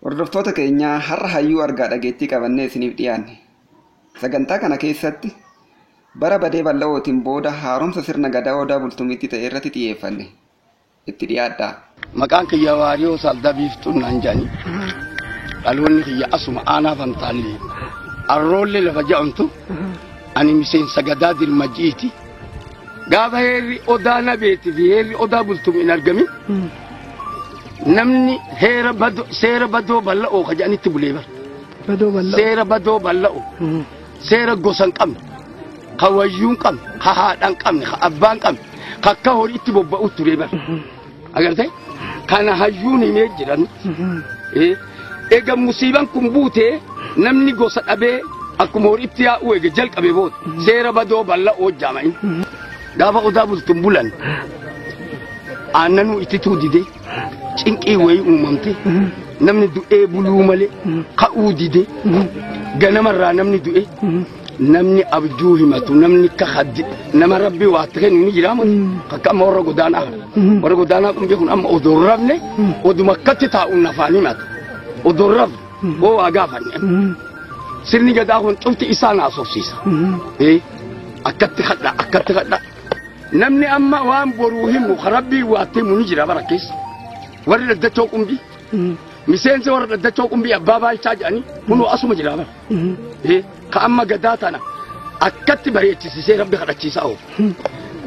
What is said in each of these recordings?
Hordoftoota keenya har'a hayyuu argaa dhageettii qabannee isiniif dhiyaanne. Sagantaa kana keessatti bara badee bal'ootiin booda haaromsa sirna gadaa odaa bultumitti ta'e irratti xiyyeeffanne. Itti dhiyaadhaa. Maqaan kiyya waariyoo salda biiftuun naan jedhani. Dhaloonni kiyya asuma aanaa fantaallee. Arroollee lafa ja'amtu ani miseensa gadaa dirmajiiti. Gaafa heerri odaa nabeetii fi heerri odaa bultum hin argamin namni heera badoo seera badoo bal'oo ka jedhanitti bulee bara. Badoo bal'oo. Seera badoo bal'oo. Seera gosa hin qabne. Ka wayyuu hin qabne. Ka haadha hin qabne. Ka abbaa hin qabne. Ka akka horiitti bobba'u ture bara. agarte kana hayyuun himee jiran Eh, ega musiiban kun buute namni gosa dhabee akkuma horiitti yaa'u ega jalqabe booda seera badoo balla hojjaama'in gaafa odaa bultun bulan aannanuu itti tuu dide cinqii wayii uumamte namni du'ee buluu malee ka'uu dide ganamarraa namni du'e namni abjuu himatu namni akka haddi nama rabbi waa itti kennu ni jiraama akka amma warra godaanaa kana warra godaanaa kun beekun amma odoo hin rafne oduma akkatti taa'uun nafaan himatu odoo hin rafne hoo waa gaafanne sirni gadaa kun cufti isaa na asofsiisa ee akkatti kadha akkatti kadha namni amma waan boruu himu ka rabbii waa itti himu ni jira bara keessa warri daddachoo qumbii miseensa warra daddachoo qumbii abbaa baalchaa jedhanii kunuu asuma jira bara Eh, ka amma gadaa tana akkatti bareechisisee rabbi kadhachiisaa oofu.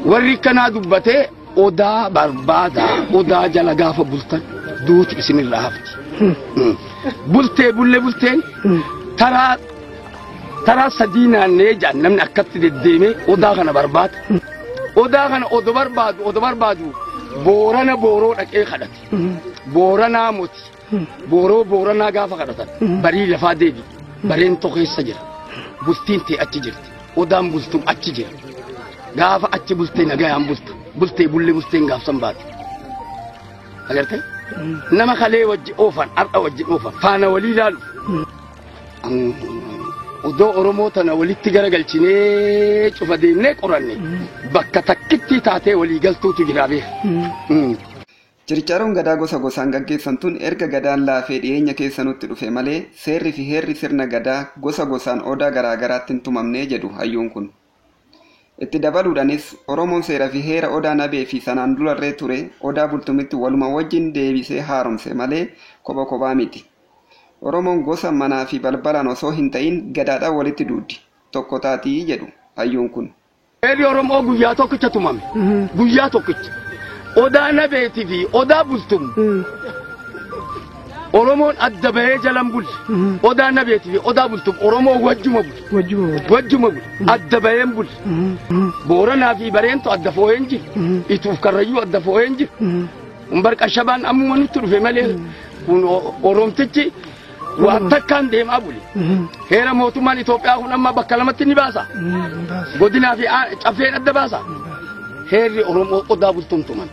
Warri kanaa dubbatee odaa barbaada odaa jala gaafa bultan duuti isinirraa hafti. Mm. Bultee bulle bulteen taraa taraa sadii naannee jaan namni akkatti deddeemee odaa kana barbaada. Odaa kana odo barbaadu odo barbaadu boorana booroo dhaqee kadhate. Booranaa moti. booroo booranaa gaafa kadhatan barii lafaa deebi bareen tokeessa jira bultiin tee achi jirti odaan bultum achi jira gaafa achi bultee nagayaan bulta bultee bullee bulteen gaafsan baate agartee nama kalee wajji oofan har'a wajji oofan faana walii ilaaluuf odoo oromoo tana walitti garagalchinee cufa deemnee qoranne bakka takkittii taatee walii galtuutu jira beeka. Chirchaaroon Gadaa gosa gosaan gaggeessan tun erga Gadaan laafee dhiyeenya keessa nutti dhufe malee seerri fi heerri sirna Gadaa gosa gosaan Odaa garaa garaatti hin tumamne jedhu hayyuun kun. Itti dabaluudhanis Oromoon seera fi heera Odaa Nabee fi sanaan durarree ture Odaa Bultumitti waluma wajjin deebisee haaromse malee kopha kophaa miti. Oromoon gosa manaa fi balbalaan osoo hin ta'iin Gadaadhaan walitti duuddi, tokko taati jedhu hayyuun kun. Reebi Oromoo guyyaa tokkicha tumame. Guyyaa tokkicha. Odaa Nabeetii fi Odaa Bultum. Oromoon adda bahee jalan buli. Odaa Nabeetii fi Odaa Bultum Oromoo wajjuma buli. Wajjuma wajjuma. Wajjuma buli. Adda baheen buli. Booranaa fi Bareentu adda foo'een jiru. Ituuf Karrayyuu adda foo'een jiru. Umbar Qashabaan ammuma nutti dhufe malee kun o- Oromtichi Waan takkaan deemaa buli. Heera mootummaan Itoophiyaa kun amma bakka lamatti ni baasa. Godinaa fi aa- caffeen adda baasa. Heerri Oromoo odaa bultumtuman.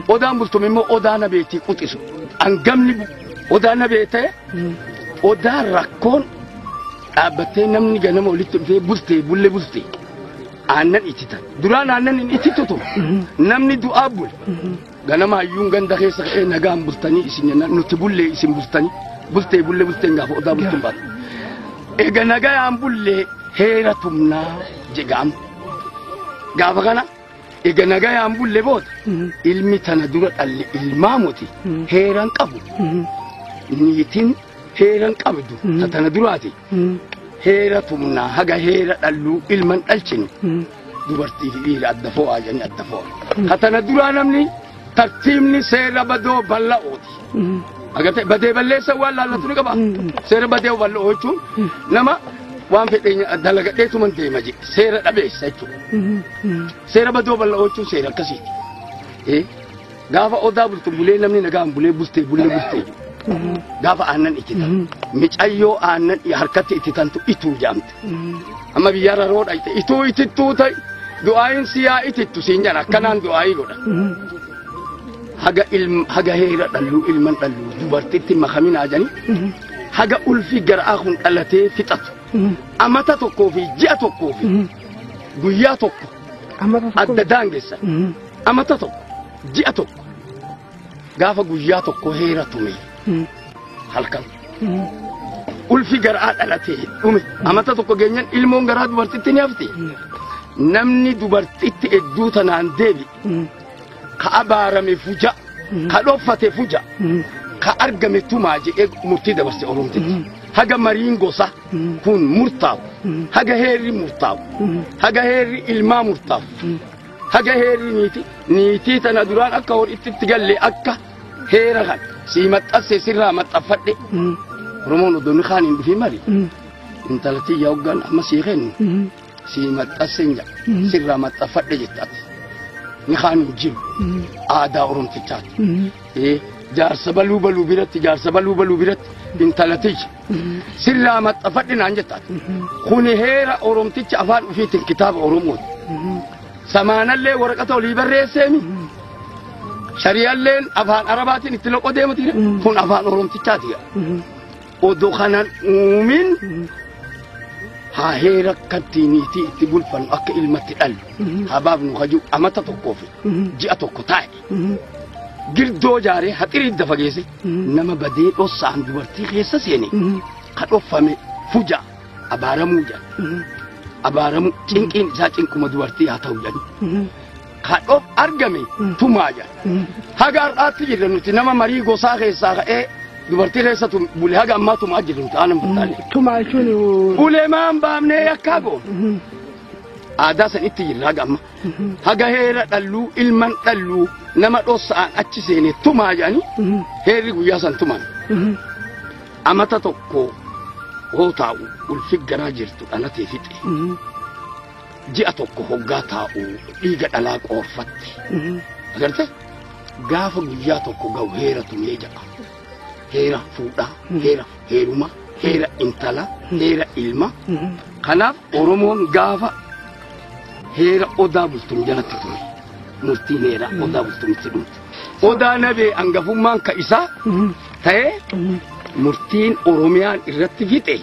Odaan bultum immoo odaa nabeetii quxisu. Hangamni bu- odaa nabee ta'e odaa rakkoon dhaabbattee namni ganama walitti dhufee bultee bulle bultee. Aannan ittitan. Duraan aannan hin ittitu ture. Namni du'aa bule. Ganama hayyuun ganda keessa ka'ee nagaan bultanii isin jennaan nuti bullee isin bultanii bultee bullee bulteen gaafa odaa bultuun baatu. Ega nagayaan bullee heera tumnaa jedhamu. Gaafa kana ega nagayaan bullee booda ilmi tana dura dhalli ilmaa moti heeran qabu. Niitiin heeran qabdu ta tana duraati. Heera tumnaa haga heera dhalluu ilman dhalchinu dubartii fi dhiira adda fo'aa jedhanii adda fo'a. Ka tana duraa namni tartiibni seera badoo bal'ooti. Agartee badee balleessa waan laallatu ni qaba. Seera badee bal'oo jechuun nama waan fedhe dalagadhee tuman deema jedhe seera dhabeessa jechuudha. Seera badoo bal'oo jechuun seera akkasiiti. Eh, Gaafa odaa bultu bulee namni nagaan bulee bultee bulee bultee jedhu. Gaafa aannan itti tan. Micayyoo aannan harkatti itti tantu ituu jaamte. Amma biyyarra roo dhayte ituu itittuu ta'i du'aayin si yaa itittu siin jedha akkanaan du'aayii godha. Haga ilm haga heera dhalluu ilman dhalluu dubartitti makaminaa jani haga ulfi garaa kun dhalatee fixatu amata tokkoo fi ji'a tokkoo fi guyyaa tokko adda daangessa amata tokko ji'a tokko Gaafa guyyaa tokko heera tume halkan. Ulfi garaa dhalatee dhume. Amata tokko geenyan ilmoon garaa dubartitti ni hafti. Namni dubartitti hedduu tanaan deebi. Ka abaarame fuja. Ka dhoffate fuja. Ka argame tumaa jedhee murtii dabarse Oromtitti. Haga mariin gosa kun murtaa'u. Haga heerri murtaa'u. Haga heerri ilmaa murtaa'u. haga heerii niiti niitii tana duraan akka hor itti itti galle akka heera kan sii maxxasse sirraa maxxaffadhe oromoon odoo ni kaan hin dhufin mali intalattii yaa hoggaan amma sii kennu sii maxxasse hin jedha sirraa maxxaffadhe jettaati ni kaan hin jiru aadaa oromtichaati Eh, jaarsa baluu baluu biratti jaarsa baluu baluu biratti intalatiyya sirraa maxxafadhe naan jettaan. Kuni heera Oromticha afaan ofiitiin kitaaba Oromooti. Samaanallee waraqata olii barreesseemi. Shari'alleen afaan Arabaatiin itti loqoo deemuti. Kun afaan Oromtichaati. Odoo kanan uumin haa heera akkatti niitii itti bulfannu akka ilmatti dhallu. Haa baafnu hajuu amata tokkoo fi ji'a tokko taa'e. girdoo jaaree haxirii idda fageesse nama badee dhossaan dubartii keessa seene ka dhoffame fuja abaaramuu jedha abaaramuu cinqiin isaa cinquma dubartii haa ta'u jedhu ka dhof argame tumaa jedha haga har'aatti jirra nuti nama marii gosaa keessaa ka'ee dubartii keessa tum bule haga ammaa tumaa jirra nuti aanan bultaale Tumaa jechuun ulemaan baamnee yakkaa goon aadaa san itti jirra haga amma haga heera dhalluu ilman dhalluu nama dhossa'an achi seene tumaa jedhanii heerri guyyaa san tuman amata tokko hoo taa'u ulfi garaa jirtu dhalatee fixe ji'a tokko hoggaa taa'u dhiiga dhalaa qoorfatte agarte gaafa guyyaa tokko ga'u heera tumee jedha heera fuudhaa heera heeruma heera intala heera ilma kanaaf oromoon gaafa heera odaa bultum jalatti ture murtiin heera odaa bultumitti dhumte odaa nabee angafummaan ka isaa ta'ee murtiin oromiyaan irratti fixe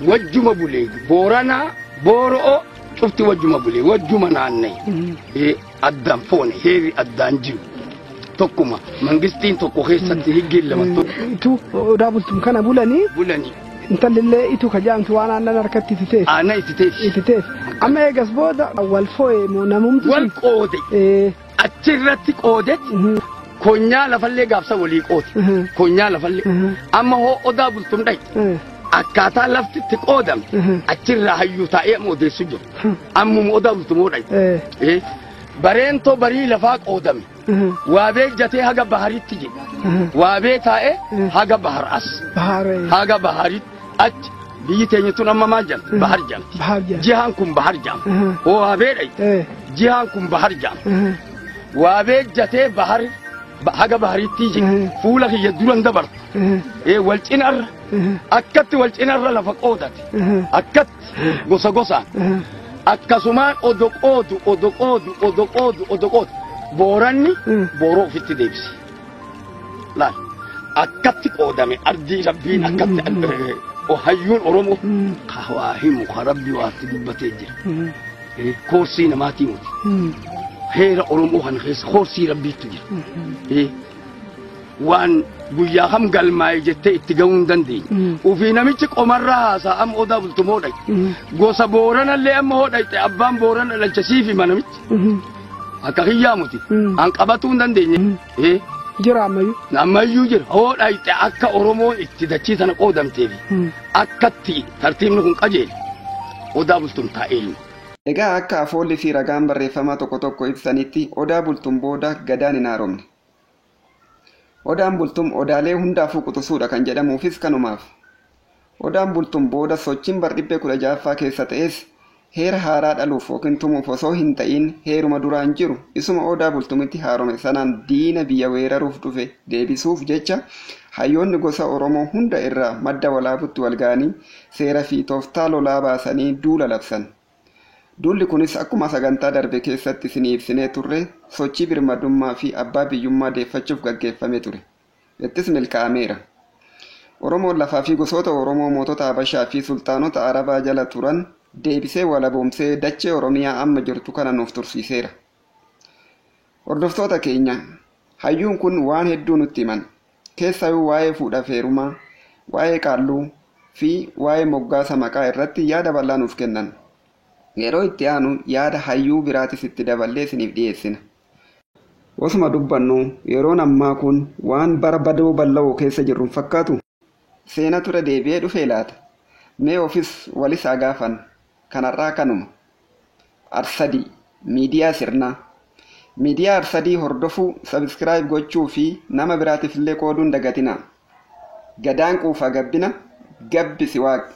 wajjuma bulee booranaa booro'oo cufti wajjuma bulee wajjuma naanna'e addaan foone heerri addaan jiru tokkuma mangistiin tokko keessatti higgiin lama tokko Itu odaa bultum kana bulanii bulanii intallillee itu ka jaamtu waan aannan harkatti itti teessi. aanaa itti teessi Itti teessi. Amma eegas booda wal foo'e moo namumti wal sun. qoode Eh, achirratti qoodetti mhm, konyaa lafallee gaafsa walii qoode mhm, konyaa lafallee mhm, amma hoo odaa bultum dhayi eh. akkaataa lafti itti qoodame achirraa hayyuu taa'ee amma odeessu jiru. Ammuma odaamtu moo dhayi. Eh, Bareentoo barii lafaa qoodame. Waabee jatee haga baharitti jedhe. Waabee taa'ee haga bahar as. Bahaara. Haga baharitti achi biyyi teenya tun amma maal jedhama? Bahar jedhama. Bahar jedhama. Jihaan kun bahar jedhama. Oo waabee dhayi. Eh, Jihaan kun bahar jedhama. eh, Waabee jatee bahar ba- haga baharitti jedhe. Fuula kiyya duran dabarta. eh. Ee wal cinarra akkatti wal cinarra lafa qoodate akkatti gosa gosaan akkasumaan odo qoodu odo qoodu odo qoodu odo qoodu booranni booroo ofitti deebise laal akkatti qoodame ardii rabbiin akkatti eh, o- hayyuun oromoo ka waa himu ka rabbi waatti dubbatee jira Eh, koorsii namaatii muti heera oromoo kana keessa koorsii rabbiitu jira Eh, waan guyyaa kam galmaa'e jettee itti ga'uu hin dandeenye. Ofii namichi qomarra haasaa amma odaa bultumoo dhaqe. Gosa booranallee amma hoo dhaqxe abbaan boorana dhalcha siif hima namichi. Akka kiyyaa muti. An qabatuu hin dandeenye. Eh, Jira ammayyuu. Ammayyuu jira. Hoo dhaqxe akka Oromoo itti dachii sana qoodamteef akkatti tartiibni kun qajeele. Odaa bultum taa'ee ilma. Egaa akka afoolli fi ragaan barreeffamaa tokko tokko ibsanitti odaa bultum booda gadaan hin haaromne. Odaan Bultum odaalee hundaafuu quxusuudha kan jedhamuufis kanumaaf. Odaan Bultum booda sochiin bardhibbee 16ffaa keessa ta'es heera haaraa dhaluuf ykn tumuuf osoo hinta'iin heeruma duraan jiru isuma Odaa Bultumitti haarome sanaan diina biyya weeraruuf dhufe deebisuuf jecha hayyoonni gosa Oromoo hunda irraa madda walaabutti walga'anii seerafi tooftaa lolaa baasanii duula labsan. Duulli kunis akkuma sagantaa darbe keessatti isinii ibsinee turre sochii birmadummaa fi abbaa biyyummaa deeffachuuf gaggeeffame ture. Ittis milkaa'ameera. Oromoon lafaa fi gosoota Oromoo mootota Habashaa fi sulxaanota Arabaa jala turan deebisee walaboomsee dachee Oromiyaa amma jirtu kana nuuf tursiiseera. Hordoftoota keenya, hayyuun kun waan hedduu nutti himan. Keessaayuu waa'ee fuudhaf heerumaa, waa'ee qaalluu, fi waa'ee moggaasa maqaa irratti yaada bal'aa nuuf kennan. Yeroo itti aanu yaada hayyuu biraatis itti daballee isiniif dhiyeessina. Osuma dubbannuu, yeroon ammaa kun waan bara badoo balla'oo keessa jirru hin fakkaatuu? Seenatu irra deebi'ee dhufee laata? Mee ofis walis haa gaafannu. Kan har'aa kanuma. Arsadii, Miidiyaa Sirnaa. Miidiyaa Arsadii hordofuu, subscribe gochuu fi nama biraatiif illee qooduu hin dagatinaa. Gadaan quufaa gabbina, gabbisi Waaqni.